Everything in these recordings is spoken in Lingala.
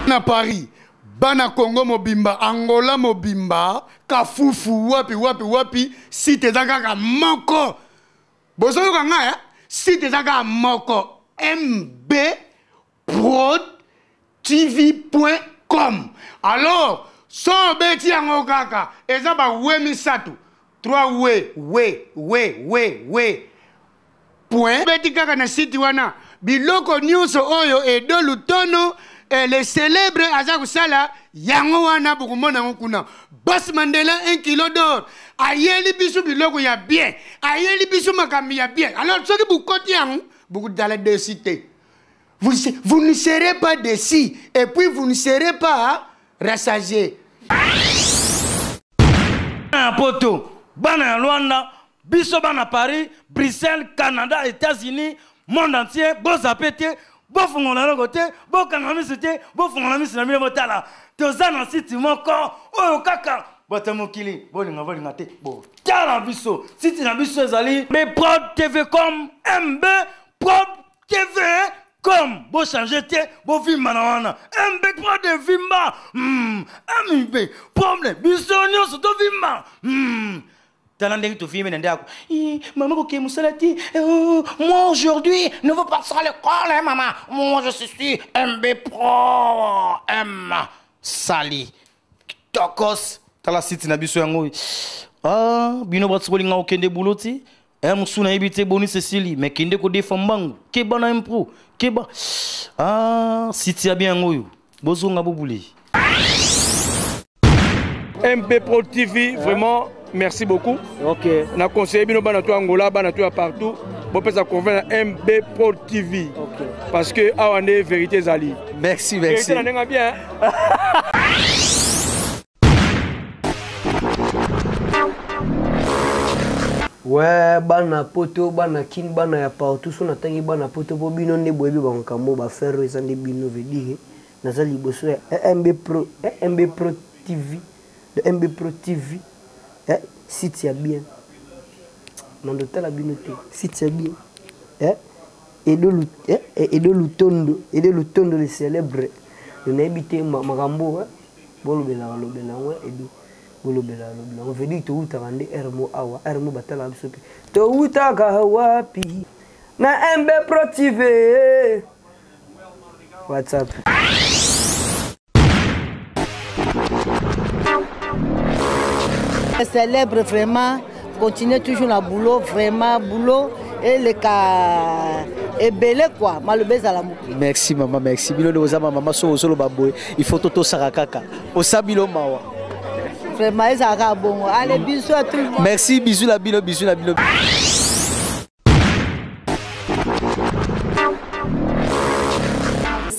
na paris bana congo mobimba angola mobimba kafufu wapi wapi wapi site eza kaka moko bozoyoka ngai eh? site eza kaka moko mb prodtv.com alors so obeti yango kaka eza bawe misato 3 we we we we we point obeti kaka na site wana biloko nyonso oyo edo lutono eh, le célèbre aza kosala yango wana bokomona yango kuna bos mandela un kilo dor ayeli biso biloko ya bien ayeli biso makambo ya bien alors soki bokoti yango bokodala desi te Vous, vous ne serez pas déçu et puis vous ne serez pas rassasié. Bana poto, bana ya Luanda, biso bana Paris, Bruxelles, Canada, États-Unis, monde entier, bozape te, bofungola loko te, bokanga miso te, bofungola miso na bino botala. Toza na site moko oyo kaka bato ya mokili bolinga bolinga te botala biso site na biso ezali beprod tvcom mb Prob TV com bo changer te bo vimba na wana mb pro de vimba mm, mb problème biso nyonso to vimba mm. tala ndenge tovimbi na ndako mama kokee mosala te eh, oh, moi aujourd'hui ne veux pas sala l'école hein, mama moi je suis mb pro m sali tokos tala site na biso yango oyo ah, bino bato bolinga kokende bulo ti Eh musu nayebi te boni Cecily mais kende ko defa mbangu keba na impro keba ah siti ya bien oyo bozonga bobule MP Pro TV vraiment merci beaucoup OK na conseiller bino bana to Angola bana to partout bopesa convoi na mb pro tv okay. parce que awa nde vérité ezali merci merci na ndenge bien Ouais, bana poto bana kin bana ya partout so natangi bana poto mpo bino nde boyebi bamakambo baferre oyo eza nde bino vedire naza liboso ya mb pro mb pro tv le mb pro tv eh, site ya bien mando tala bino te site ya bien eh? Edo, Lut, eh, eh Edo Lutondo, Edo Lutondo le célèbre. Nayebi te makambo eh, bolobelaka lobela yango eh, Edo bolobelaka lobela yango vedi towutaka nde rmo awa rmo batalaka biso mpe towutaka wapi na mb protive whatsapp Célèbre vraiment, continuez toujours la boulot, vraiment boulot et les cas ebele quoi maloba ezala moke merci mama merci bino nde oza mamama soki ozoloba boye il faut totosaka kaka osa bilo mawa vraiment ezala kaka bongo ale biso ya tout le monde merci bisu na bino bisu na bino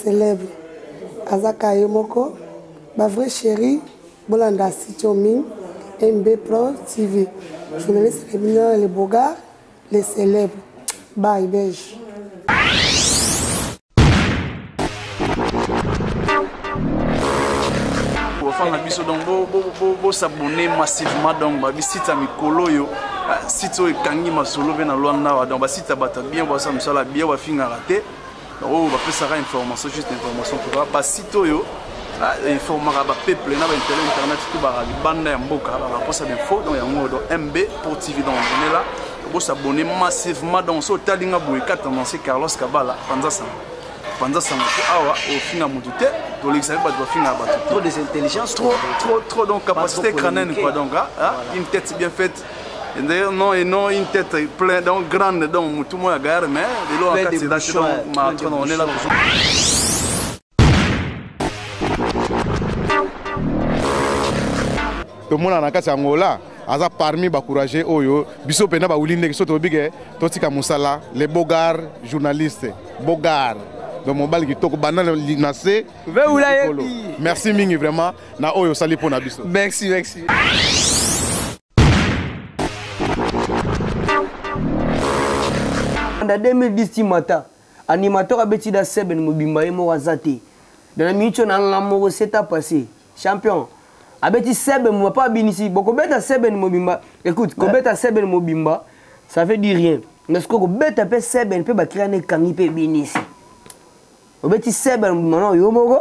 célèbre aza ka ye moko bavrai chéri bolanda sitiomi mb pro tv journaliste na bino le bogar le célèbre bay belge bafana na biso donc bosabone massivement donc babisite ya mikolo oyo ah, site oyo ekangi masolo mpe na lwanda awa donc basite ya bato bien basala mosala bien bafingaka te oyo bapesaka information juste information mpoka basite oyo Ah, informaka ba peuple na ba intérêt internet tout ba libanda ya mboka ba raposa d'info donc yango do MB pour TV donc on est là bo s'abonner massivement donc so talinga boye ka tendance Carlos Kabala panza sango panza sango ko awa ofinga mutu te to lekisa ba to finga ba trop des intelligences trop trop trop donc capacité crânienne quoi donc hein, hein voilà. une tête bien faite D'ailleurs, non, et non, une tête pleine, donc grande, donc tout le monde a garé, mais de l'eau en 4 c'est dans ma on est là toujours. tomona na kati ya angola aza parmi bacourage oyo biso mpenza bawili ndeke so toyebi ke totika mosala le bogar journaliste bogar donc mobali kitoko banda na se merci mingi vraiment na oyo osali mpo na biso merci merci banda 2010 ti mata animateur abeti da seben mobimba ye moko aza te dana minitio na nga moko seta passé champion abeti seben mobimba mpo abinisi bokobeta seben mobimba écoute kobeta seben mobimba ça veut dire rien mais sikoyo kobeta mpe seben mpe bakila na ekangi mpe ebinisi obeti seben mobimba na yo moko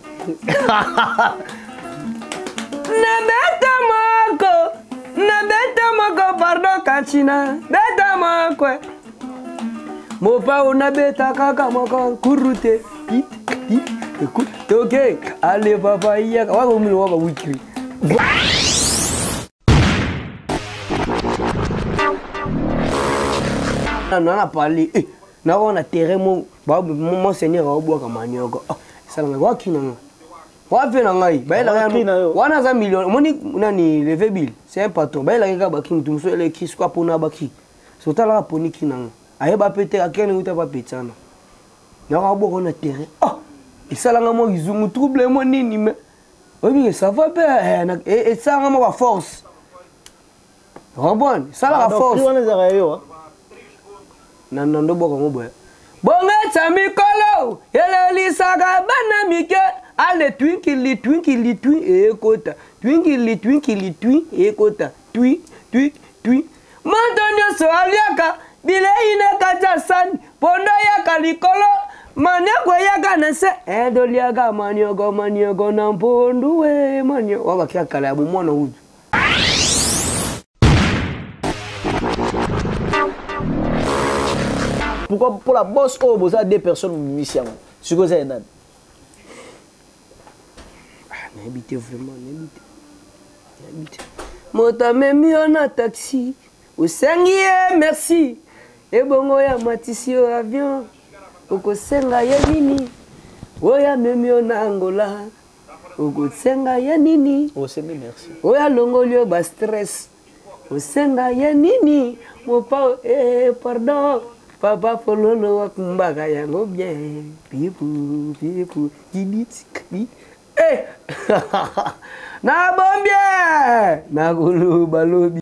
na beta moko na beta moko pardon kachina beta moko mopao na beta kaka moko nkuru te toke ale papa iyaka waka omino waka wikiri nana pale eh. na wana terrain mo ba mon seigneur au boka manioko ah, sala nga waki na nga wapi na ngai ba ela ya wana za million moni nani levé bill c'est un patron ba ela ka ba king tum so ele kis kwa pona ba ki so tala poni ki na nga aye ba pete ka kene uta ba petsana na ka boko na terrain ah esala nga mo kizungu trouble mo nini mais oyebi que ça va pe eh, eh, esala nga mo ba force Robon, sala la force. Wana ezaka yo. Hein? Na nando boko ngo boye. Bongetsa mikolo, elelisaka bana mike. Ale twinkili twinkili twi ekota. Twinkili twinkili twi ekota. Twi twi twi. Moto nyonso aliaka bilei na kati ya sani mpondo yaka likolo manioko eyaka na nse edoliaka eh, manioko manioko na mpondu e eh, manioko wabakia kala ya bomwana utu pourquoi mpo la bosse oyo boza deux personnes momimisi yango sikoyo eza ya nani ah, nayebi te vraiment nayebi te nayebi te moto amemi yo na taxi osengi ye merci ebongo ya matisi yo avion okosenga ye nini oyo amemi yo na angola okosenga ya nini osengi merci oyo alongoli yo ba stress osenga ya nini mopao eh, pardon papa fololo wakumbaka yango bien pipu pipu diditsikbi eh. nabombi nakoloba lobi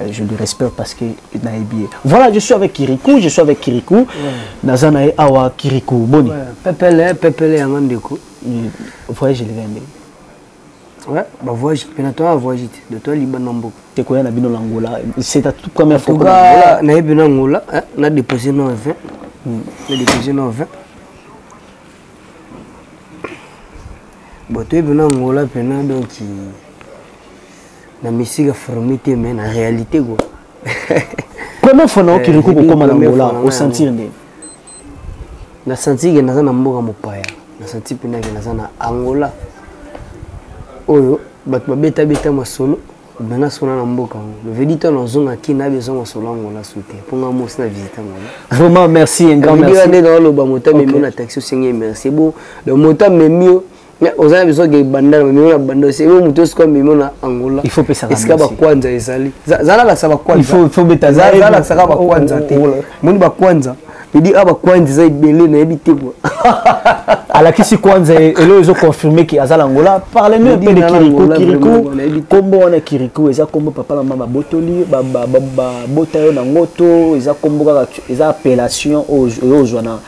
Euh, je le respecte parce que nayebi ye voilà je suis avec kirikou je suis avec kirikou naza na ye awa kirikou boni pepele pepele yango ndeko voyage eleka ndenge Ouais, bah voyage, pena toi voyage te, de toi liban na mboka. Te koya na bino na Angola, c'est ta toute première fois. Angola, na yebi na Angola, hein, na déposé no 20. Hmm. Na déposé no 20. Bon, tu yebi na Angola pena donc na misika fourmi te mais na réalité quoi première fois nao kiriku kokoma na ngola osentir nde na sentir ke naza na mboka mopaya na sentir mpena ke naza na angola oyo bato babetabeta masolo bana sona na mboka yango levedi to nazonga kina abeza masolo angola su te mpo nga mosi na visite angola vraiment merci un grand merci nde naoloba moto amemi na taxi osengi merci bo moto amemi yo mais oza na besoin ke bandana bamemi na banda ose yo moto esika memi na angola esika bakwanza ezali zalalakisa bakwanzazalakisaka bakwanza te moni bakwanza edi a bakwanza eza ebele nayebi te kua alakisi kwanza elo ezo confirme ke aza na angola parle nous mpe de kiriku kiriku nkombo wana kiriku eza nkombo papa na mama babotoli babota yo na ngoto eza nkombo kaka eza appellation oyo ozwa na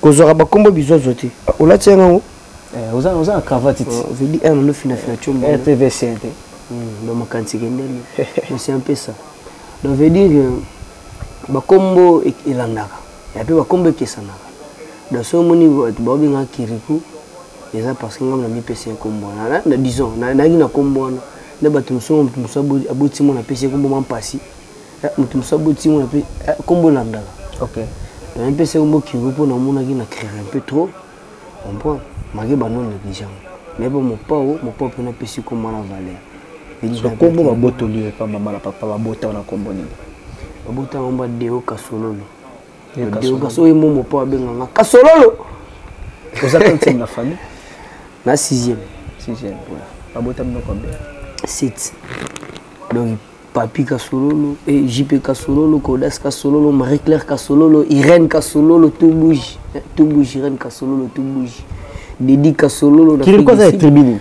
kozwaka bakombo bizozo te olati yango yango eh, oza oza na cravate ti oh, vedi un no fina fina chombo eh, rtv sen te hmm, ba makanisi ke ndeni mais c'est un peu ça donc veut dire euh, bakombo e, elandaka ya pe bakombo ekesanaka donc so omoni bato baobenga kiriku eza parce que ngai na mipesi nkombo wana na disons nayaki na nkombo wana na bato mosusu moto mosusu aboti mwana apesi nkombo ma mpasi eh, moto mosusu aboti mwana mpe eh, kombo elandaka okay. mais mpe se kombo kigo mpo namonaki na creve un peu trop comprend maki bano negligent mais mpo mopao mopao mpe napesi kombo na valeur kombo babotoli yo epa mama na papa babota wana kombo nini babota yango ba deo kasololo deo kasololo ye mo mopao abenganga kasololo oza kantieme na famille na sixième sixième babota minoko mbe site donc Papi Kasololo, eh, JP Kasololo, Kodas Kasololo, Marie-Claire Kasololo, Irène Kasololo, tout bouge. Eh, tout bouge, Irène Kasololo, tout bouge. Didi Kasololo, Kirikoza est tribune.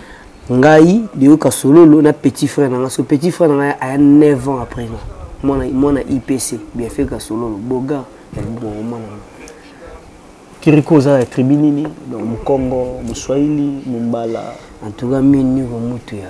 Ngai, Deo Kasololo, na petit frère na ngai. petit frère na ngai a 9 ans après moi. Moi na, moi na IPC, bien fait Kasololo, Boga, eh, bon, moi na Kirikoza est tribune, donc Mukongo, Muswahili, Mumbala. En tout cas, mimi, mutu ya.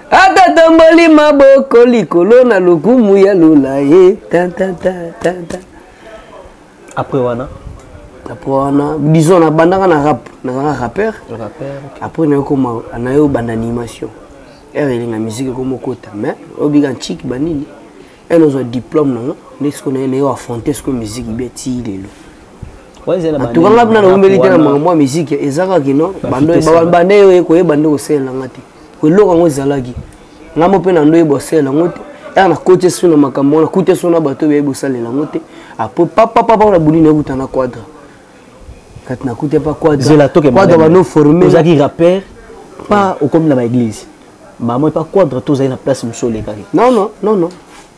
akatomboli maboko likolo na lokumu ya lola ye après wana après wana disons nabandaka na rap nazalaka rappeur après nayokoma nayo banda animation ere elinga musike ekoma okota mais obika ntiki banini ene ozwa diplôme nango nde sikoyo naye nayo affronte sikoyo musike bia tii lelo antuka nga bina naumeli te na makambo ya musike eza kaka kino banda yo ekoyeba nde kosalela nga te eloko yango ezalaki ngai mo mpe na ndoyeba osalela yango te ere nakoti esu na makambo wana kuta esu na bato oyo bosalela yango te apres papapapa na buni nakuta na quadra kati nakuta pa quadra banoformeozalaki rapper pa okomi na baeglise bamoi pa quadra to ozali na place mosusu olekaki non non non non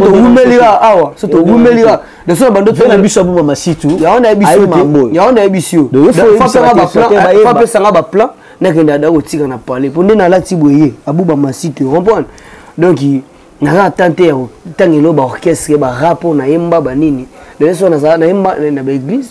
towumeli awa so towumeli awa naso na bandoto na biso aboma masitu yango nayebi si yo bapesanga baplan nakende ada kotika na palais mpo nde nalati boye abuba masitu comprendre donc naza atante ya ntango elo baorchestre barap oyo nayemba banini leso nazala nayemba na baeglise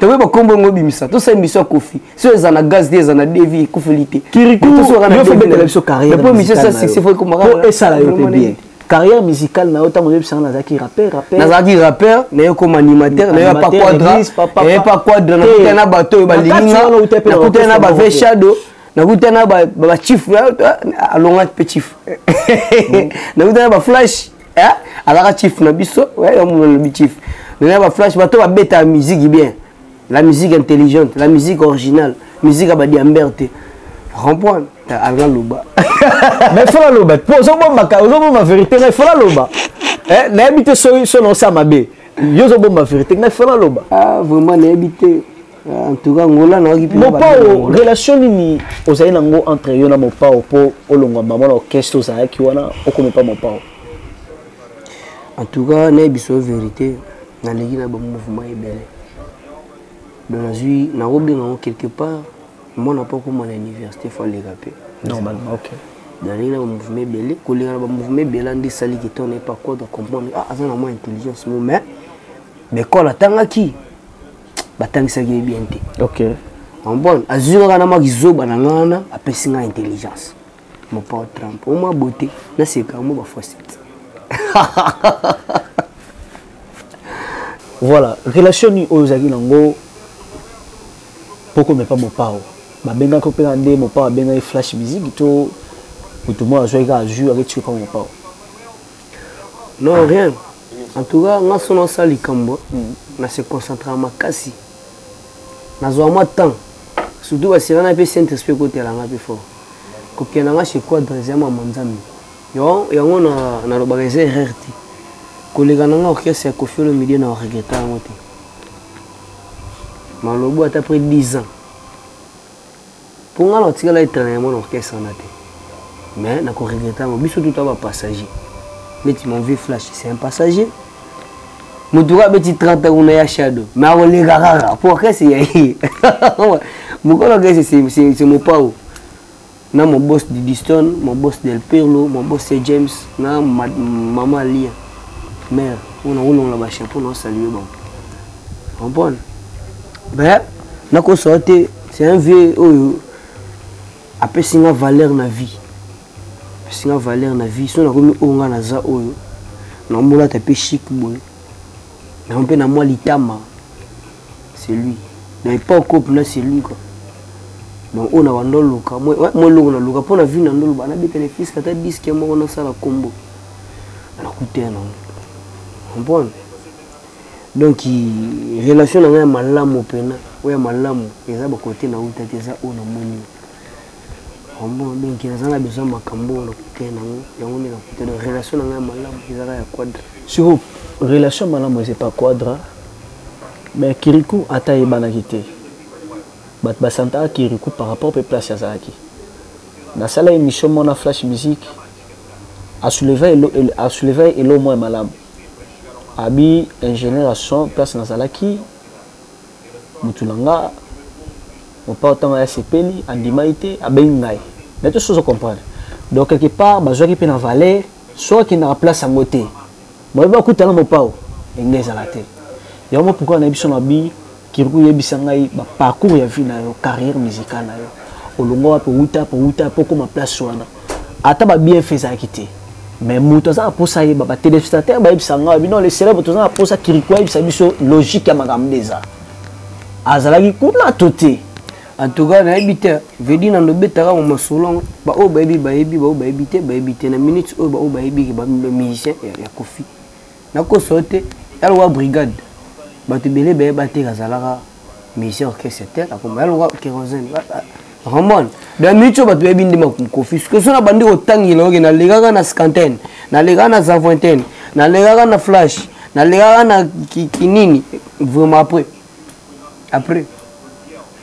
tokoki bakombo yango obimisa tosala émission ya kofi so eza na gaz te eza na devi ekufeli te kirikuyofobetela biso carrièrepo émission esa succès fo ekomaka esala yo mpe bien carrière musicale na yo ntango oyebisanga nazalaki rappeur rappeur nazalaki rappeur naye koma animateur naye pa quadra naye pa quadra nakutana na bato oyo balinginga nakutana na bave shadow nakutana na bachief alonga mpe chief nakutana na baflash eh? alaka chief na biso yamuna lobi chief nana ba flash bato babetaka musique bien la musique intelligente la musique originale musique ya badiamber te comprendre alaka loba mais fola loba po ozobombaka ozobomba vérité mais fola loba eh, nayebi te soki soki naosala mabe yo ozobomba vérité mais fola loba ah, vraiment nayebi te en tout cas ngola na okipi mopao relation nini ozali na ngo entre yo na mopao mpo olongwa mama na orchestre ozalaki wana okomi mpa mopao en tout cas nayebi so vérité naleki na bamouvement ebele donc nazwi nakobenga ngo quelque part mwana mpo akoma na université fo aleka mpe normalement ok naleki na bamouvement ebele koleka na bamouvement ebele nde esali ke to nayepa kode comprendre ah aza na mwa intelligence mo mais mais kole atangaki batangisaki ye bien te okay. ombone azwi kaka na mwa kizoba na nga wana apesi nga intelligence mopao trump omwa bote naseka mo bafoisete voilà relation nini oyo ozalaki nango pokome pa mopao babengaki mpena nde mopao abengaki flash musique to moto moko azwaki kaka azwi aketiki pa mopao non rien en tout cas nga so nasala likambo hmm. na se concentraka makasi nazwa mwa temps surtout basira na mpe saint esprit ekotela nga mpe fort kokende nga chez quadre eza mama nzambe yango nalobaka eza erreur te koleka na nga orchestre ya kofi olomide na regreta yango te malobo ata près 10 ans mpo ngai natikala etrene ya mwana orchestre wana te mais nakoregrete yango biso tuta bapassager neti mon vieux flash c'est un passager moto oyo abeti 30 ans kuna ya shadow mais akoleka kaka mpo orchestre ya ye mokolo orchestre c'est mopao na mon boss didiston mon boss del perlo mon boss se james na mama lia mare oyo nakolongola bachapeau naosalue bango comprendre mais nakosoa te c'est un vieux oyo apesi nga valeur na vie apesi nga valeur na vie so nakomi oyo nga naza oyo naomolata mpe chic boye yango mpe na mwa litama c'est lui na epoque oyo mpena c'est lui quoi donc oyo na banda oluka mwa eloko naluka mpo na vie na ndo loba nabeta na fiske ata diske moko nasala nkombo nakuta ya nango comprendre donc relation na ngai ya malamu mpena oyo ya malamu eza bakote na uta te eza oyo namoni ombo donc naza na besoin makambo oyo nakuta nango yango nde nakuta donc relation na ngai ya malamu ezaka ya quadre sur relation malamu eza epa quadra mais kiriku ata ayebanaki te bato basantaka kiriku par rapport mpe place azalaki nasala émission mona flash musique asouleva elo moko ya malamu abi ingénieur ya son place nazalaki mutu na nga mopao ntango aya sepeli andimaki te abengi ngai na to sozo comprendre donc quelque part bazwaki mpe na valeur soki akendaka place yango te bayebi bakutana mopao enge ezala te yango pourkoi na biso na bi Kirikou yebisa ngai ba parcours ya vie na yo, carrière musicale na yo. Olongwa wapi outa po outa po koma place wana. Ata ba bien fait ezalaki te. Mais moto aza aposa yeba ba téléspectateurs ba yebisa ngai bino les célèbres toza na posa Kirikou yebisa biso logique ya makambo ndeza. Azalaki kuna to te. En tout cas nayebi te vedi na ndobetaka ngo masolo baoyo bayebi bayebi baoyo bayebi te bayebi te na minute oyo baoyo bayebi bamusicien ya kofi nakosa yo te yalokola brigade bato ebele beye bateke azalaka musicien orchestre te akoma yalokola kerosene ramon da mico bato bayebi nde makofi soki so na bandi kotangela oke nalekaka na scantaine nalekaka na zavintaine nalekaka na flash nalekaka na kinini vraiment après après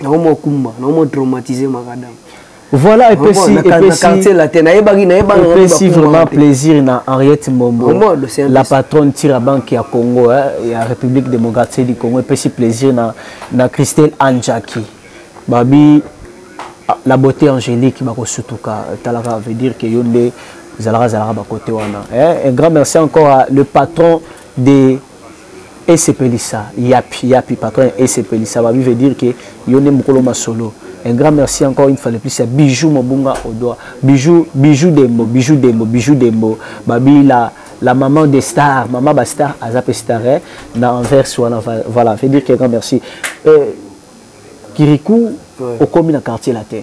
nango mwa kumba nango mwa traumatise makadam voilà epesi epesi latin nayebaki nayebaki epesi vraiment plaisir na Henriette Mbombo la patronne tira banque ya Congo eh, ya République démocratique du Congo epesi plaisir na na Christelle Anjaki babi ah, la beauté angélique bakosutuka talaka veut dire que yo nde zalaka zalaka ba côté wana eh, un grand merci encore à le patron des esepelisa yapi yapi patron ya esepelisa babi veut dire que yo nde mokolo masolo un grand merci encore une fois de plus ya bijou mobunga odoa bijou bijou dembo bijou dembo bijou dembo babi la la maman des stars maman ba star aza pe star eh? na anvers wana voilà veut dire que grand merci euh, kirikou ouais. okomi na quartier latin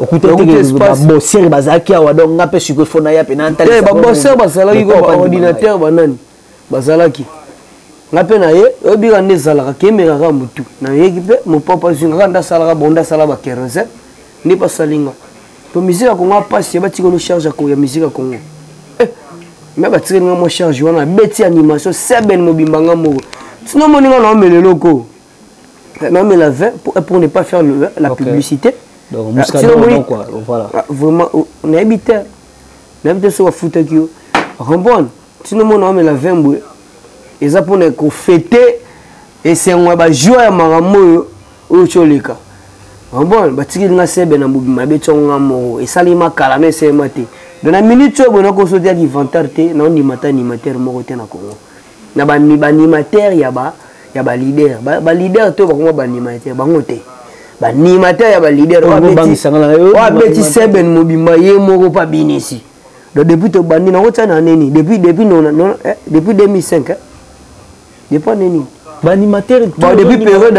okutbabosere bazalaki awa donc nga mpe sikoyo fo naya mpe natalbabosere eh, bazalaki baordinateur banani bazalaki nga mpe naye oyebika nde ezalaka kemeka kaka motu nayeki mpe mopapa azwi nga kaka nde asalaka bonde asala ba 15 nde basali nga mpo miziki ya kongo apasi batika no charge ya miziki ya kongo eh, me batikeli nga mwa charge wana abeti animation seben mobimba nga moko sino omoni nga naomela eloko mais la vin pour, pour ne pas faire le, la okay. publicité donc ah, muscadin non quoi voilà ah, vraiment oh, on habite on habite sur foutre qui rembonne sinon mon homme la vin boy ils a pour ne ko fêter et c'est un ba joie à maramoyo au cholika rembonne ba tikili na sebe na bobi mabe tsonga mo et sali ma kala mais c'est maté dans la minute oyo bonako sotia ki vantar te na on ni mata ni matière moko te na Congo na ba animateur ya ba ya ba leader ba, ba leader to bakoma ba animateur bango te ba animateur ya ba leader wa beti wa beti seben mobimba ye moko pa binisi donc depuis to bandi na ko tsana nini depuis depuis non, non eh, depuis 2005 eh? depuis nini ba animateur depuis période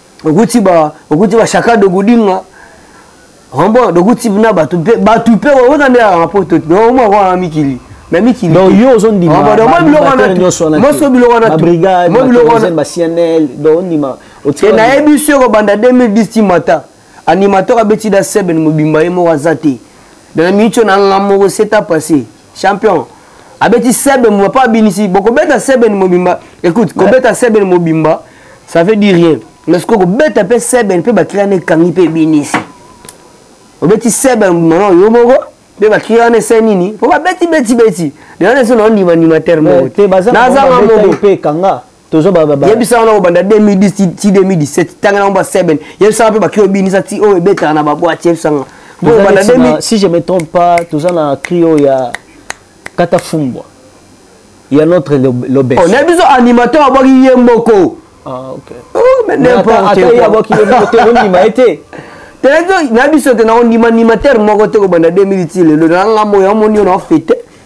okuti ba okuti ba shaka de gudinga rombo dokuti na bato mpe bato mpe oza nde ya poto omwa kwa mikili na mikili donc yo ozondima nyonso biloko wana cnl donc ondima te nayebi biso ekobanda 2010 ti mata animateur abeti da seben mobimba ye moko aza te na miniti oyo na nga moko seta passe champion abeti sebe mobimba mpo abinisi bokobeta sebe ni mobimba écoute kobeta sebe ni mobimba ça veut dire rien mais sikoyo kobeta mpe sebe mpe bakili wana ekangi mpe ebinisi obeti sebe mobimba na oyo moko mpe bakili wana ese nini mpo babeti beti beti lelo na eso naondima ndima terme eh, nazanga moko tozo ba ba yebisa wana obanda 2010 ti 2017 tanga na ba 7 yebisa mpe bakio binisa ti oyo ebetaka na ba boîte yebisa nga bo obanda 2000 si je me trompe pas toza na crio ya kata fumbwa ya notre lobes on a besoin animateur abaki ye moko ah OK oh mais n'importe quoi ata abaki ye moko te ondima ete telezo na biso te na ondima animateur moko te kobanda 2010 lelo na ngambo ya moni yo na fete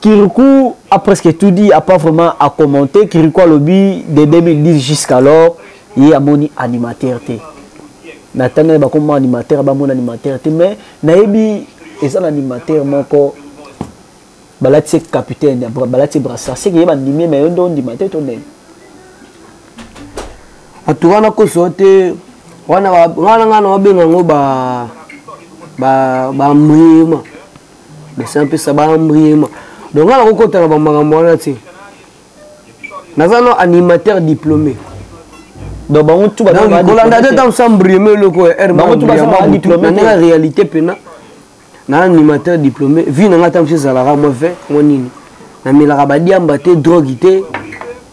Kirikou a presque tout dit, a pas vraiment à commenter. Kirikou a lobby de 2010 jusqu'alors, il y a mon animateur. Natana ba comme animateur, ba mon animateur. Mais naebi eza na animateur moko balati capitaine, balati brassard. C'est que yeba ndimi mais yondo ndima te tonne. Atura na ko sote wana wana ngana obenga ngo ba ba ba mrima. bese apesa baambriema donc nga nakokotaka bamakambo wana te naza no animateur diplômé donc bango tu kolanda te ntango sambrieme eloko ya rmnanga réalité mpena na animateur diplômé vie na ngai ntango ezalaka mwa ve mwa nini namelaka badiamba te drogue te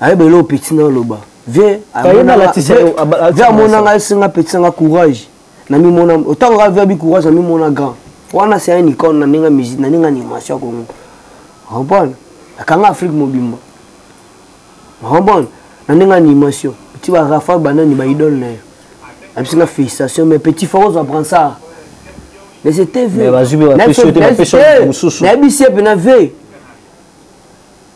ayeba eloo petit na oloba vie amona ngai esenga petit na nga courage namimona ntango ngai vie abi courage namimona grand wana se un icone na ndenge musique na ndenge animation ya kongo comprendre akanga afrique mobimba comprendre na ndenge animation ti ba rafa banani ba idole na ye abisi nga félicitation mais petit fort ozwa prend ça mais c'était vrai nayebisi ye mpe na veille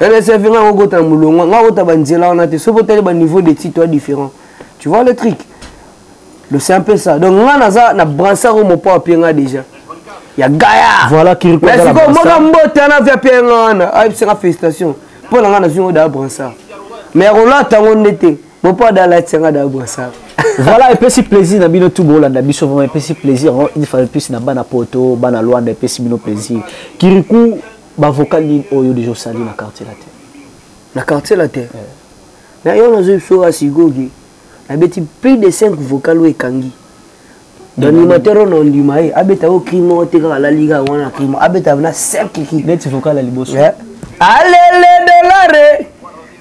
rsf nga kokota na molongo nga kota banzela wana te soki otali baniveau de titre ya différent tu vois le trick le c'est un peu ça donc nga naza na bransar oyo mopa apie nga déjà ya gaya voilà kirikoasikoyo moka mbote wana via mpe nga wana ayebisaka félicitation mpo na nga nazwi ngo daa bransar mais ya kolata yango nde te mopa da alati yanga daa bransar voilà epesi plaisir na bino tu bolanda biso vraiment epesi plaisir une fois de plus na bana poto bana luanda epesi bino plaisir kiriku ba vocal nini oyo deja osali na quartier latin na quartier latin eh. na yo nazo biso wa sigogi na beti plus de 5 vocal oyo ekangi d'animateur oyo na ondima ye abeta yo cri moko te kaka alali kaka wana cri moko abeta na 5 cri neti vocal ya liboso eh. alele dolare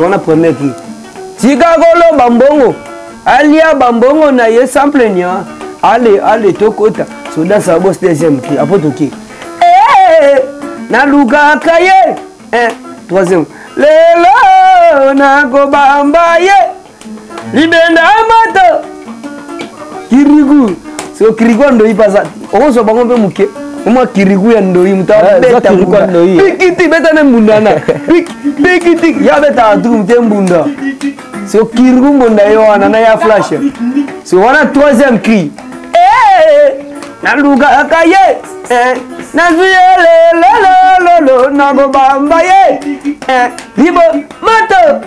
wana premier ki tika koloba mbongo alia bambongo na ye sans plaignant ale ale tokota soda sabos deuxième ki apo toki eh, nalukaka ye eh, troisième lelo nakobamba ye libenda amata kirigu siko kirigu ya ndoi baza okozwa bango mpe moke omwa kirigu ya ndoi moto abeta mbunda pikiti beta ne mbunda na pikiti ya betaka tuku mote mbunda siko kirigu mbunda ye wana na ya flash siko wana troisième cri nalukaka ye eh, nazwi ye lelelololo nakobamba ye eh, libo moto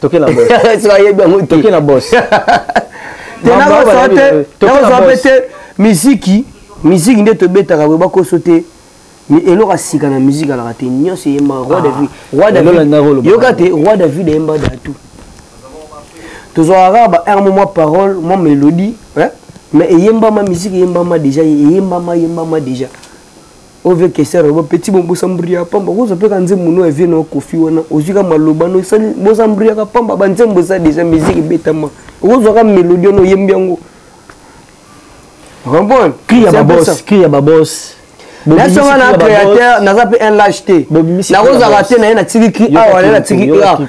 toke na boss soki ayebi yango te toke na boss te nakozwa te nakozwa mpe te miziki miziki nde tobetaka boye bakoso te eloko ya sika na miziki alaka te nyonso eyemba roi ah. david roi david yoka te roi david ayemba datu tozwaka kaka ba air mwa parole mwa mélodie mais eyembama miziki eyembama déjà eyembama eyembama déjà ove kesera ba petit bon bosa mbria pamba kozo peka nzembo no vie no kofi wana ozika maloba no sali bosa mbria ka pamba ba nzembo za déjà musique betama ozo ka melodie no yembi yango comprendre cri ya ba boss cri ya ba boss naso nga na créateur naza mpe un lage te nakozala te na ye natiki ki awa na ye natiki ki awa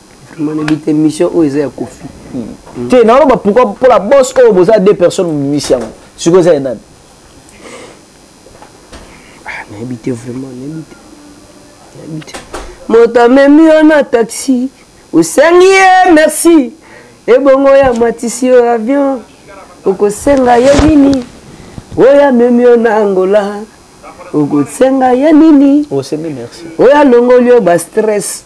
émission oyo eza ya kofi hmm. te naoloba pourkoi mpo la bos oyo boza deux personnes mobimisi yango sikoyo eza ya nani ah, nayebi te vraiment nayebi te nayebi te moto amemi yo na taxi osengi ye merci ebongo oyo amatisi yo avion okosenga ye nini oyo amemi yo na angola okosenga ye nini osengi merci oyo alongoli yo bastress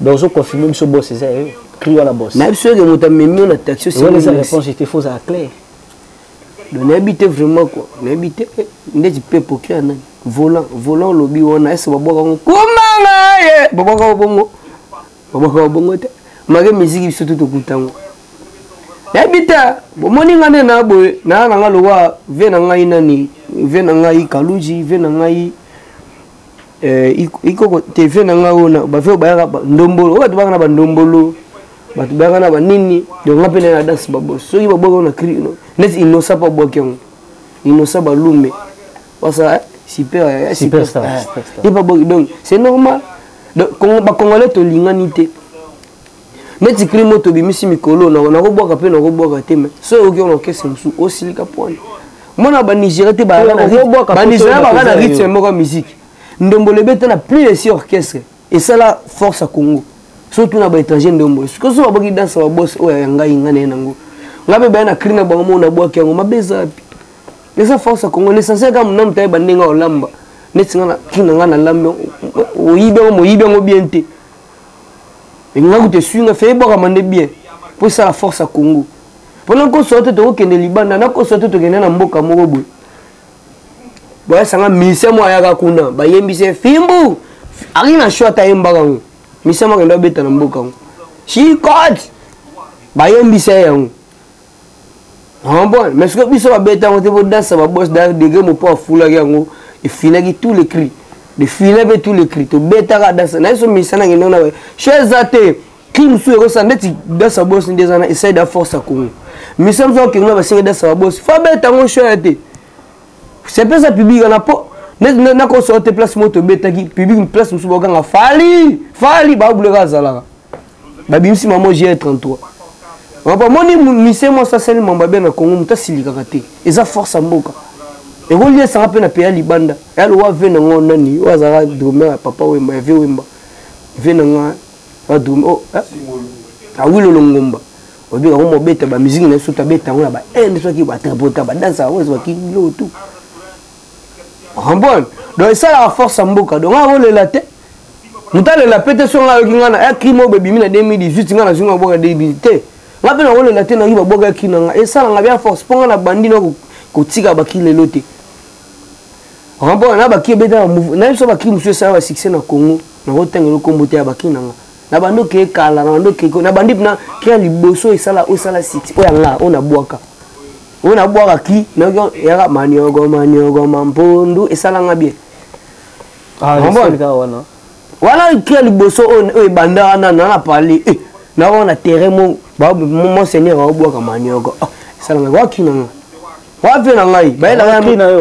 donc ozo confirme biso boss eza yo cri wana boss nayebi soki moto amemi yo na taxi wana eza réponse ete fo ozala clair donc nayebi te vraiment kua nayebi te eh, ndeti mpe poki ya nani volant volant olobi wana ese babwaka yango komanga ye babwaka yo bongo babwaka yo bongo te make miziki biso tu tokuta yango nayebi te bomoni nga nde na boye naa na nga lokola ve na ngai nani ve na ngai kaluji ve na ngai eh, ikoko teve na ngai oyo bave oyo bayaka ndombolo oyo bato baka na bandombolo bato bayaka na banini donc nga mpe naye na danse babos soki babwaki yango na cri neti inosa mpo abwaki yango inosa balume basala super eh, ye babwaki donc c'est normal donc bacongolais tolingani te neti kili moto obimisi mikolo nakobwaka mpe nakobwaka te me soki oki ona okese mosusu osilika pwana mwana banigeria te banigeria baka na rythme moko ya miziki ndombolo ebeta na plus esi orchestre esala force ya congo so tuna baétranger ndombolo sikoyo so baboki danse ya babos oyo ya ngai ngai naye nango ngai mpe baya na cri na bango moko nabwaki yango mabe eza wapi eza force ya congo l'essentiel kaka monamu tayeba ndenge olamba neti ngai na cri na ngai nalambi oyibi yango moyibi yango bien te elinga kutu esui nga fei ebwakama nde bien mpo esala force ya congo mpo nakosola te tokokende libanda nakosola te tokende na mboka moko boye boyasanga mise moko ayaka kuna bayembisi fimbu ari na sho ata ayembaka yango mise moko akenda abeta na mboka yango chikot bayembisa ye yango Ah, bon mais soki biso babeta yango te bodansa babos degre mopo afulaki yango efinaki tout le cri efina mpe tout le cri tobetaka dansa naye so misana ngende na che eza te cri mosusu ekosala ndeti dansa bos nde eza na esai da force ya congo misa mosusu akokende na basengi dansa babos fo abeta yango shaya te sepesa public wana mpo nakosoo te place moko tobetaki public place mosusu bakanga fali fali babuleka azalaka babimisi mama jr 33 mapa moni mise mwasi asali mambo abe na congo moto asilikaka te eza force ya mboka ekoliesanga mpe na peya libanda yalowa ve na ngo nani oyo azalaka drome ya papa wemba ya ve wemba ve na nga badrome oh, eh? awilo longomba oyebi yango mobeta bamiziki na biso tabeta yango na bainde soki batripota badansa yango ezwaki biloko tu rambone donc esalaka force ya mboka donc akolela te moto alela mpe te songa ayoki ngai na ekri moko ebimi na 2018 ngai nazwi ngai babwaka 2018 te ngai mpe nakolela te nayoki babwaka ekri na ngai esala ngai bya force mpo ngai na bandi na kotika baki lelo te remport na baki ebeta na biso baki mosusu esala basuccès na congo nakotangelo nkombo te ya baki na ngai na bandi okeye kala na bandi okeye na bandi mpena kya liboso esala osala site oyo ya ngai oyo nabwaka oyo nabwaka ki yaka maniogo maniogo mampondu esala ngai bien Ah, wana kila liboso oyo ebanda wana nana parle eh, na wana terrain mo monseigneur aobwaka manioko ah, esalanga waki nanga wapi na ngai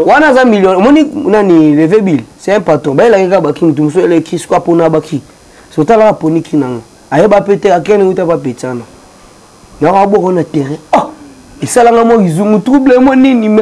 wana aza million omoni nani leve bill c'est un patron bayelaki kaka baki motu mosusu eleki siko apona baki sotalaka aponi ki nanga ayeba mpe te akende uta bapetsana naka abwaka na terrain ah, esalanga mo izungu trouble mo nini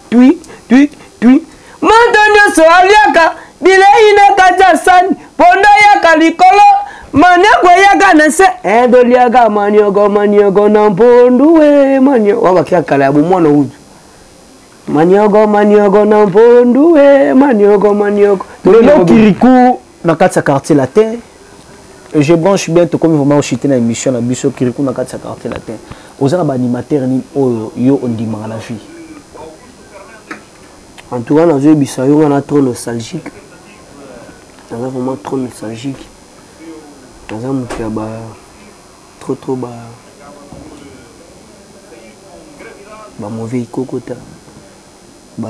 twi twi twi moto nyonso aliaka bilei na kati ya sani ponda yaka likolo manioko eyaka na se edoliaka eh, manioko manioko na mpondu e manioko oyo bakia kala ya bomwana utu manioko manioko na mpondu e manioko manioko lelo kiriku na kati ya quartier latin je branche bien tokomi vraiment ochite na émission na biso kiriku na kati ya quartier latin oza na baanimateur nini oyo yo ondimaka na vie en tout cas nazoyebisa yo wana trop nostalgique naza vraiment trop nostalgique naza moto ya ba trop trop ba ba mauvais ikokota ba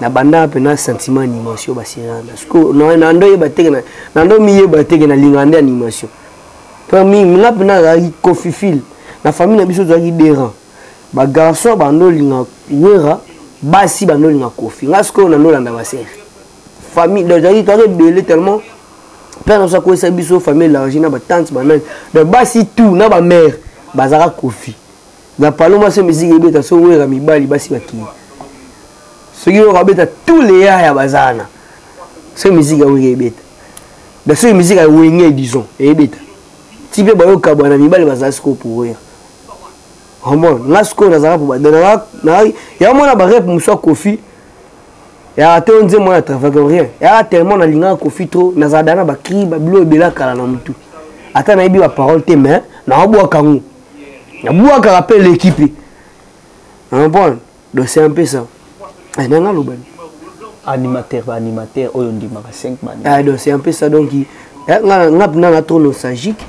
na banda pe na sentiment animation ba siranda siko na na ndo yeba teke na na ndo mi yeba teke na linga nde animation pe mi nga pe na la kofifil na famille na biso zaki dera ba garçon ba ndo linga wera basi ba ndo linga kofi nga siko na ndo landa ba sere famille donc zaki to ebele tellement père na sako esa biso famille large na ba tante ba nani donc basi tout na ba mère bazaka kofi na paloma se miziki ebeta so wera mibali basi bakili soki yo kabeta tous les ya ya bazana se miziki ya wenge ebeta da soki miziki ya wenge disons ebeta ti mpe bayoka bwana mibali bazala sikoyo pourir omon nga sikoyo nazalaka po badana yango mwana barep mosu ya kofi yaka te onze mwana travake rien yaka tellement nalingaka kofi trop nazala dana bakri babilo ebela kala na motu ata nayebi baparole te mais naobwaka yango abwakaka mpe eleki mpe comprendre donc c'est un peu ça eh, nanga alobani animateur baanimateur oyo ondimaka 5 ah, donc c'est un peu ça donc eh, nga mpena na trop nostalgique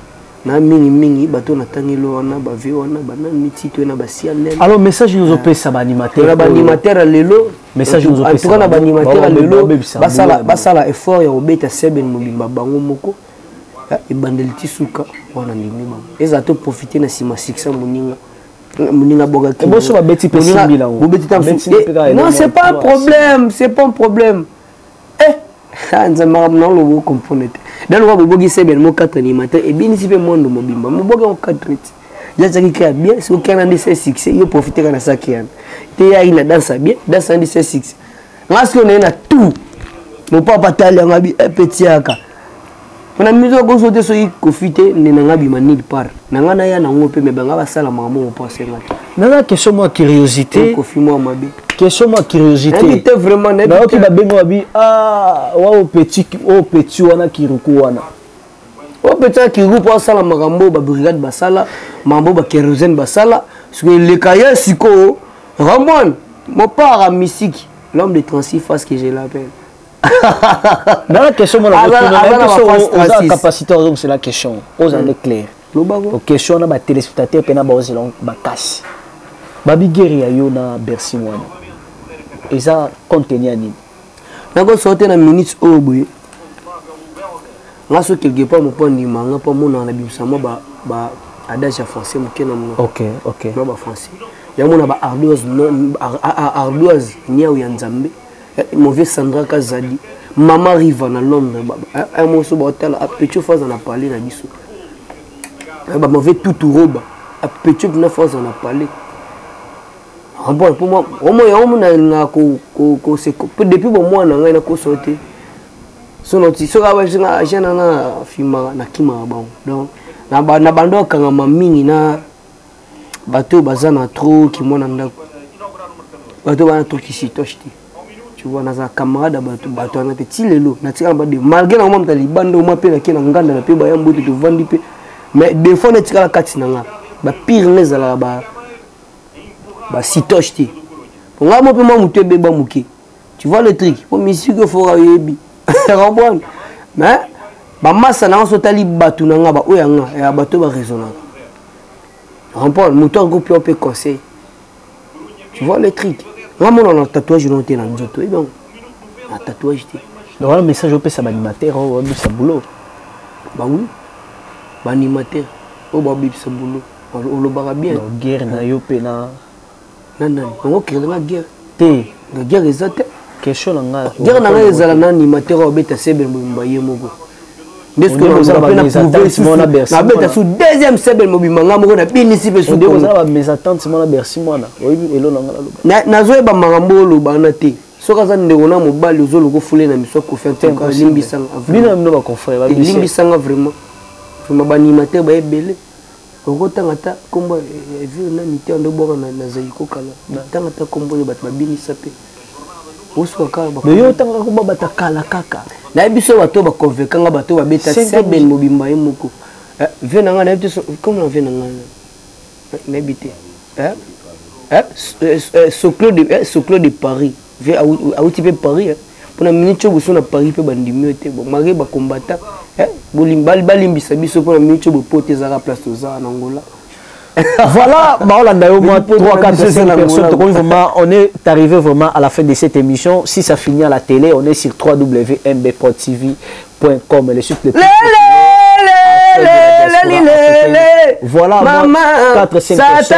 na mingi mingi bato natangeli wana bave wana banani mitito na basianel alors message nozopesa baanimateur na baanimateur ya lelo message nozopesa na baanimateur ya lelo basala effort ya kobeta seben mobimba bango moko ebandeli ti suka wana ndimi bango ezala to profite na nsima succès moninga moninga abwakaki boso babeti mpe simbi nango bobeti ta eh, non c'est pas un problème c'est pas un problème eh ah, nzambe makambo nango lobo okomprone te da lokola boboki sebene mo 4 ni matin ebinisi mpe mondo mobimba moboki yango 4 ti jazaki kea bien soki ana nde se succès yo profite ka na saki yana te yaki na dansa bien dansa ndi se succès nga sikoyo naye na tout mopapa tali yanga bi epetiaka eh, mpo na miso akoso te soki kofi te nde nanga bima nil part nanga naya nango mpe me banga basala makambo mopo asenga te naza question mwa curiosité kofi mwa mabe question mwa curiosité vraiment nayoki babenga babi ah, wa o petit o oh, petit wana kiruku wana o oh, petit wana kiruku mpo asala makambo babrigade basala makambo bakérosene basala sikoyo eleka ye sikoyo ramon mopart ya misiki l'homme de 36 face que je l'appelle nana question mona oza capacité ozongisela question oza nde claire question wana batelespectateur mpe na baozela makasi babigere ya yo na bercy wana eza contenu ya nini nakosote na minute oyo boye nga so quelque part moko andima nga mpo amonaka na bimisa mwa ba, ba adage ya français moke na monoko okay, okay. mwa ba français yango na ba ardoise ardoise niau ya nzambe eh, mauvais sandra kazadi mama riva na londres eh, eh, moso baotala apetio faza na pale na biso bamauvais tutu roba apetio mpena faza na pale bon mpo yango mona elingaka depuis bomwana ngai nakoso te sono ti soki abayebisi nga agent na nafimaka nakimaka bango donc na bando akangama mingi na bato oyo baza na tro kimwana ndako bato bana tokisitoche te tu vois naza camarade ya bato bato wana te ti lelo natikala bade malgré nango mamta libanda oma mpe nake na nganda na mpe baya mbote tovandi mpe mais defaut netikala kati na nga bapire nga ezalaka basitoche te po ngai mo mpe mwa motu ebeba moke tu vois le truc po misiki ofoka oyebi comprendre mais bamasa na yango so tali bato na nga baoyo ya nga ya bato baraisonnaka comprendre moto yango mpe mpe conseil tu vois le truc nga mona na tatouage no te na nzoto oyebi yango na tatouage te donc wana message opesa baanimateur oyo babisa boulot bawi baanimateur oyo babibisa boulot olobaka bien guerre na yo mpe na na nani bango okele nga guerre te nga guerre eza te question na nga guerre na nga ezala na animateur oyo abeta sebe mobimba ye moko nabeta su deuxième sebe mobimba nga moko nabinisi mpe sunazoyeba makambo oyo oloba wana te soki aza ndeko na mobali ozoluka ofule na miso kofelimbisanga vraiment vraiment baanimateur baye ebele oko tanga ta kombo ya ville na mite ando bwaka na na zaiko kala tanga ta kombo ya bato babinisa pe osuka kaka ba mais yo tanga kombo bata kala kaka na ye biso bato ba convaincre nga bato ba beta seben mobimba ye moko eh, vie na nga na ye biso comme na vie na nga na bite eh eh, eh, eh soclo de eh soclo de paris vie awuti mpe paris eh. mpo na minute oyo boso na paris mpe bandimi yo te bon malgré bacombatta eh, balimbisa biso mpo na minute oyo bopo te ezalaka place toza na angola voilà baolanda yo moi 3 4 5 personnes tokomi vraiment on est arrivé vraiment à la fin de cette émission si ça finit à la télé on est sur www.mbprotv.com le site le plus voilà moi 4 5 personnes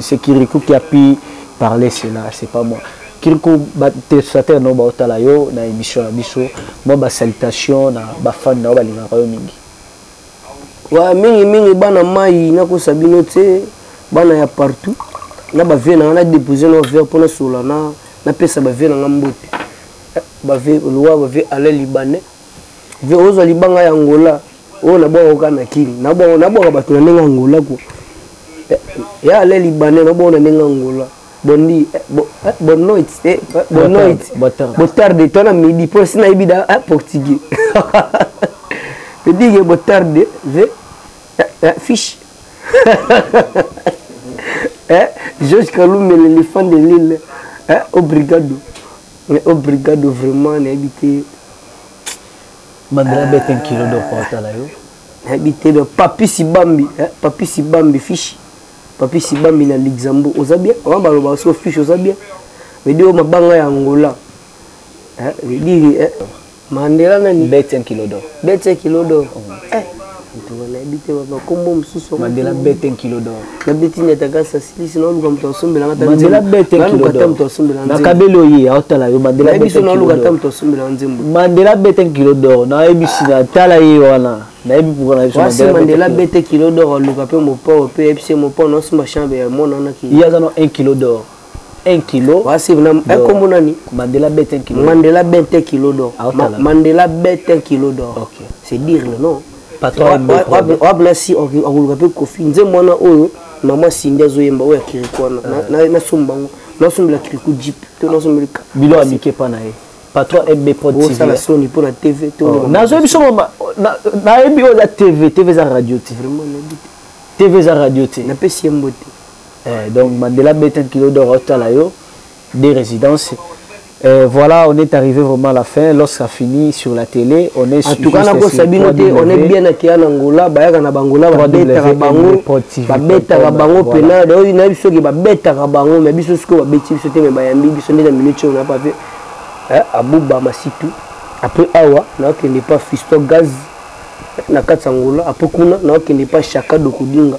c'est Kirikou qui a pu parler cela, c'est pas moi. Kirikou, ba téléspectateurs no baotala yo na émission na biso, moi ba salutation na ba fans na yo balingaka yo mingi. Wa mingi mingi bana mai nakosa bino te, bana ya partout. Na ba vie na nga na déposer na verre pona sola na na pesa ba vie na nga mbote. Ba vie loi ba vie ala libanais. Vie ozo libanga ya Angola. oyo nabwaka oka na kini nabwaka bato na ndenge angola ko eh, ya ale libanais nabwaka na ndenge angola bondi eh, eh, bonne noite bonne noite botarde to na midi mpo esi nayebi da portugais edige botarde ve fiche george kalume l'éléphant de lille obrigado obrigado vraiment nayebi te Mandela euh, bete nkilo do kota la yo. Nayebi te do papi sibambi, hein, papi sibambi fishi. Papi sibambi na Luxembourg, oza bien? Wa baloba so fishi oza bien? Mais dio mabanga ya Angola. Hein, je dis hein. Mandela nani? Bete nkilo do. Bete nkilo do. Mm. Eh. ntuka nayebi te bakombo mosusu mandela bete nkilo dor nabeti nde ataka sasilisi naoluka moto asombela mandela bete nkilo dor moto asombela na kabeli oye aotala yo mandela bete biso naoluka ata moto asombela nzembo mandela bete nkilo dor nayebi sina tala ye wana nayebi mpoka na biso wasi mandela bete kilo dor aluka mpe mopao mpe yebisi ye mopao naosomba chambre ya mwana wana ki ye aza na 1 kilo dor 1 kilo wa save na eh, kombo nani Mandela bet 1 kilo Mandela bet 1 kilo d'or ah, Ma, Mandela bet 1 kilo d'or okay. c'est dire le nom wabla si akoluka mpe kofi nze mwana oyo mama sindi azoyemba oyo ya kiriku wana ah. nasomba yango nasombela kiriku jip to nasombeli bilo amike mpa na ye patron mb protosala soni mpo na tv oh, nazoyebi biso nayebi oyo eza tv tv eza radio te tv eza radio te napesi ye mbote eh, donc mandela beta kilo d'or otala yo des résidences Euh, voilà, on est arrivé vraiment à la fin. Lorsqu'à fini sur la télé, on est en tout cas, on est bien à Kian Angola, Bayaka na Bangola, Babetaka Bango, Babetaka Bango, Pena, d'ailleurs, il y a biso qui Babetaka Bango, mais biso ce que Babeti, biso te, mais Bayambi, biso nde na minute on a pas vu. Hein, Abouba Masitu, après Awa, na kende pas Fisto Gaz, na Katsangola, après Kuna, na kende pas Chaka Dokudinga.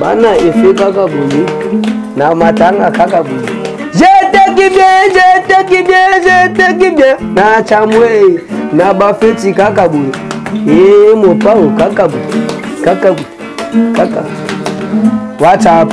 bana efe kaka boye na matanga kaka boye jeteki bien jeteki bien jeteki bien na chamwe na bafeti kaka boye ee mopao kaka boye kaka boye kaka whatsapp